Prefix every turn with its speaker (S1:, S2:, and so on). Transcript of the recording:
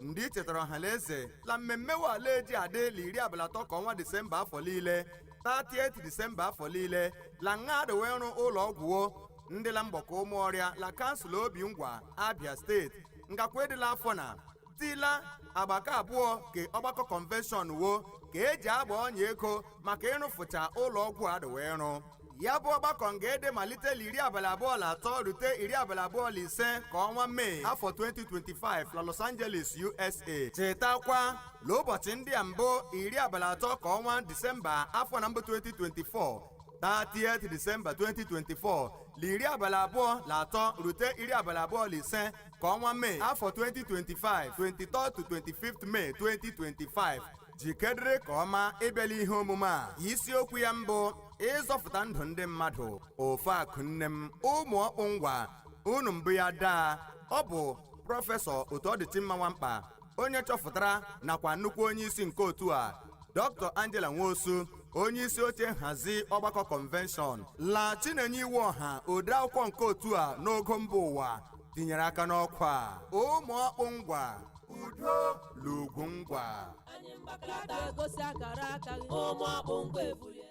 S1: ndị ichetara ọha la eze la mmemme wo la-eji adị la iri abalị atọ ka ọnwa disemba afọ liile 30 disemba afọ liile la nga a dị we ịrụ ụlọ ọgwụ wo ndị la mgbọkọ ụmụọrịa la kansụl obingwa abia steeti ngakwa ịdị la afọ na tila agba ke abụọ ke ọgbakọ kọnvenshọn wo ka eji agba ọnya ego maka ịrụfụcha ụlọ ọgwụ a dị we ịrụ ya bụ ọgbakọ nga-ede malite la iri abalị abụọ la atọ rute iri abalị abụọ la ise ka ọnwa mee afọ 2025 la Los Angeles USA chetakwa la ụbọchị ndị a mbụ iri abalị atọ ka ọnwa Disemba afọ na mbụ 2024 30 Disemba 2024 la iri abalị abụọ la atọ rute iri abalị abụọ la ise ka ọnwa mee afọ 2025 23 to 25 May 2025 jikedịrị ka ọma ịbịa la ihe omume a isiokwu ya mbụ ịzọfụta ndụ ndị mmadụ ofe akụ nne m ụmụ ọkpụ ngwa unu mbụ ya daa ọ bụ prọfesọ otuọdịchimma nwankpa onye chọfụtara nakwa nnukwu onye isi nke otu a dr angela nwosu onye isi oche nhazi ọgbakọ kọnvenshọn la chinenye iwuọha ode akwụkwọ nke otu a n'ogo mba ụwa tinyere aka n'ọkwa a. ụmụ ọkpụ ngwa udo la ugwu
S2: ngwa anyị
S1: mgbakọta
S3: egosi akara aka
S2: gị ụmụ
S1: ọkpụ
S2: ngwa ebulie